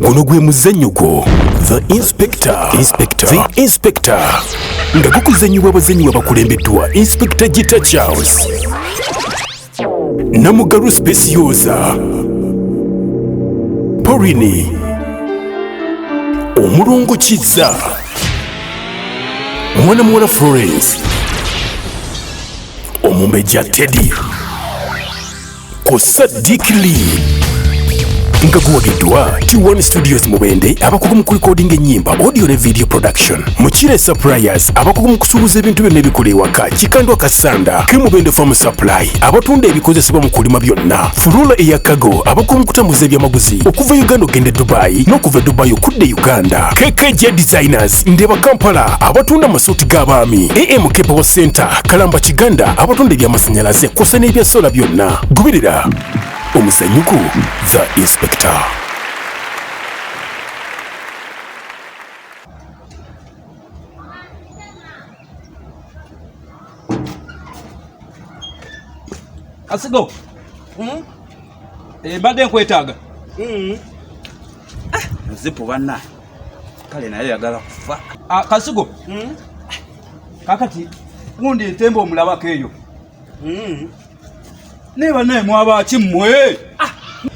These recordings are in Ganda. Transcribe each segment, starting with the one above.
guno gwe muzannyo gwo the inspector inspector the inspector nga gukuzannyibwa abazannyi babakulembeddwa inspector gita charles namugalu specioza porini omulongo kizza mwana muwala florence omumbejja teddy ku Sadiq Lee nga guwagiddwa T1 Studios Mubende abakugu mu kulikodinga ennyimba audio ne video production Mukire Suppliers abakugu mu kusuubuza ebintu byonna ebikola ewaka Kikandwa Kasanda ke Mubende Farm Supply abatunda ebikozesebwa mu kulima byonna Furula eya Kago abakugu mu kutambuza ebyamaguzi okuva Uganda okugenda e Dubai n'okuva e Dubai okudda e Uganda KKJ Designers Market, Ndeba Kampala abatunda amasuuti g'abaami, AM Kepewo Center, Kalamba Kiganda abatunda eby'amasannyalaze kw'ossa n'ebya sola byonna. Goberera omuzanyuku The Inspector. Asigo. Mm? Eh, mbadde nkwetaaga. Mm. Ah. Zipu banna. kale naye yagala kufa ah, kasigo hmm? kakati gundi entemba omulabako eyo hmm. naye banaye mwabaki mmwe ah,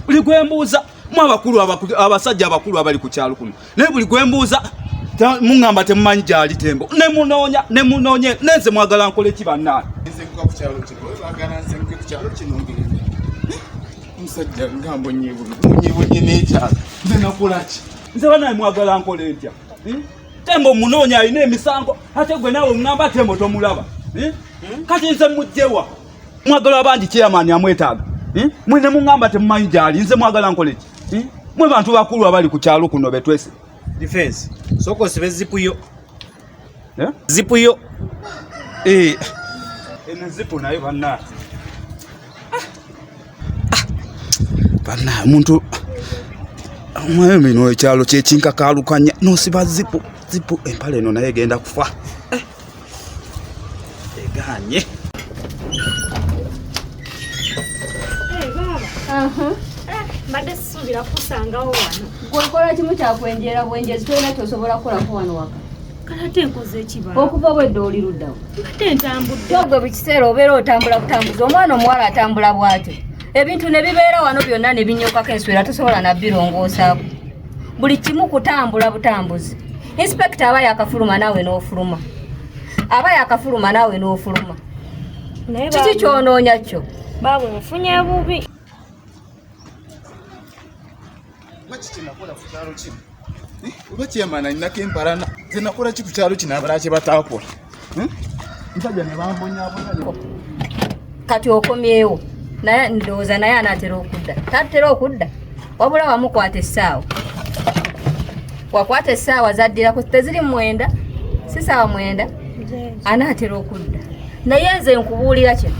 buli gwembuuza mu abakulu abasajja abakulu abali ku kyalo kuno naye buli gwembuuza muŋamba temumanyi gyali tembo nemunoonya nemunoonye nenze mwagala nkole ki bannaani musajja ngambo nyibunye nekyalo nze nakolaki nze banaye mwagala nkola entya hmm? tembo munoonya alina emisango ate gwe naawe ŋŋamba tembo tomulaba hmm? Hmm? kati nze mujjewa mwagala abandi chairman amwetaaga hmm? mwe ne muŋŋamba temumanyi gyali nze mwagala nkola eki hmm? mwe bantu bakulu abali ku kyalo kuno betwese defense sokosibe zipuyo Eh? Zipu yo. Eh. Eno eh, zipu nayo banna. Ah. Ah. Banna omuntu mwayo mino ekyalo kyekinkakaalukanya nosiba zipu zipu empale eno naye egenda kufa. eganye mbadde sisuubira kusangawo wano gwekola kimu kyakwenjera bwenjezi tolina kyosobola kukolako wano waka kalate nkoze ekibala okuva obwedde oli luddawo mbadde ntambudde ogwe buli kiseera obeera otambula kutambuza omwana omuwala atambula bwatyo ebintu ne bibeera wano byonna ne binyokako enswera tosobola nabbirongoosaako buli kimu kutambula butambuzi inspekita aba yakafuluma naawe n'ofuluma aba yakafuluma naawe n'ofuluma kiki kyonoonya kyo baaba ofunye bubi oba kyemana ninako empalana zenakola ki ku kyalo kino abalakye batakola nsajja nebambonyabonayo kati okomyewo naye ndowooza naye anaatera okudda tatera okudda wabula wamukwata essaawa wakwata essaawa zaddirako teziri mwenda si saawa mwenda anaatera okudda naye nze nkubuulira kino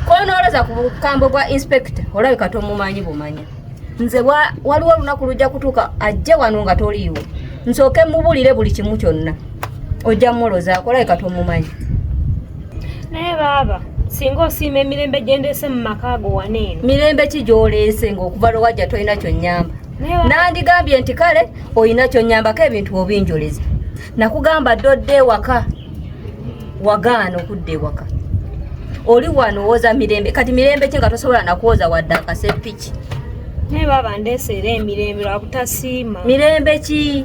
konooloza ku bukambo bwa inspector olabika tomumanyi bumanya nze waliwo olunaku lujja kutuuka ajje wano nga toliiwo nsooke mubulire buli kimu kyonna ojja mulozaako olabika tomumanyi naye baaba singa osiima emirembe gyendeese mu maka ago wana eno mirembe ki gyoleese ngaokuva lwewajja tolina kyonyamba nandigambye nti kale olina kyonyambako ebintu obinjoleza nakugamba dde odde ewaka wagaana okudda ewaka oli wano owoza mirembe kati mirembe ki nga tosobola nakwoza wadde akasepiki naye baba ndeseera emirembe lwakutasiima mirembe ki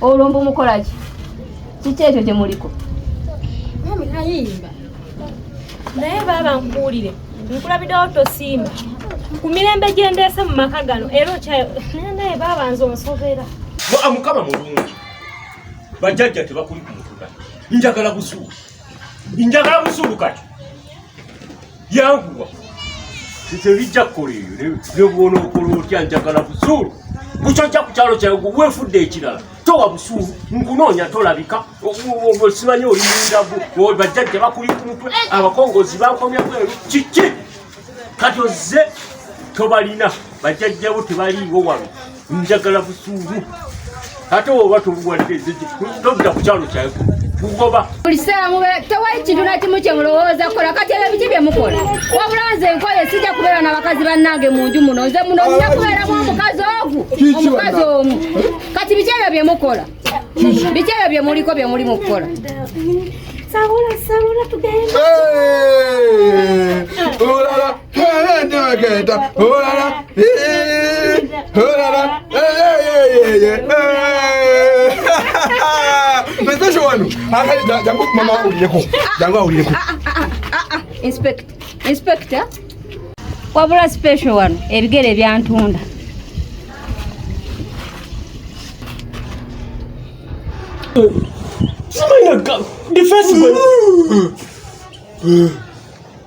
olwo mbu mukolaki kiki ekyo gye muliko naye baaba nkubuulire nkulabidewo tosiima ku mirembe gye ndeese mu maka gano era okyayo naye baaba nze onsobera mukama mulungi bajjajja tebakuli ku mutuga njagala busuulu njagala busuulu kati Yankuwa. Nze bijja kukola eyo ne bw'onookola otya njagala busuulu. Bukyojja ku kyalo kyawe gwe weefudde ekirala. Towa busuulu nkunoonya tolabika simanyi oli mundagu bajjajja bakuli ku mutwe abakongozi bankomya bweru kiki kati ozze tobalina bajjajjabo tebaliiwo wano njagala busungu ate oba toluwalidde todda ku kyalo kyayo kugoba bulisaamu tewali kintu na kimu kye mulowooza kukola kati ebyo biki bye mukola wabula nze nkoye sijja kubeera na bakazi bannange mu nju muno nze muno nja kubeeramu omukazi ogu omukazi omu kati biki ebyo bye mukola biki ebyo bye muliko bye muli mu kukola Saula, Saula, tu ganhou. inspector wabula special wano ebigere byantunda Somebody got defensible.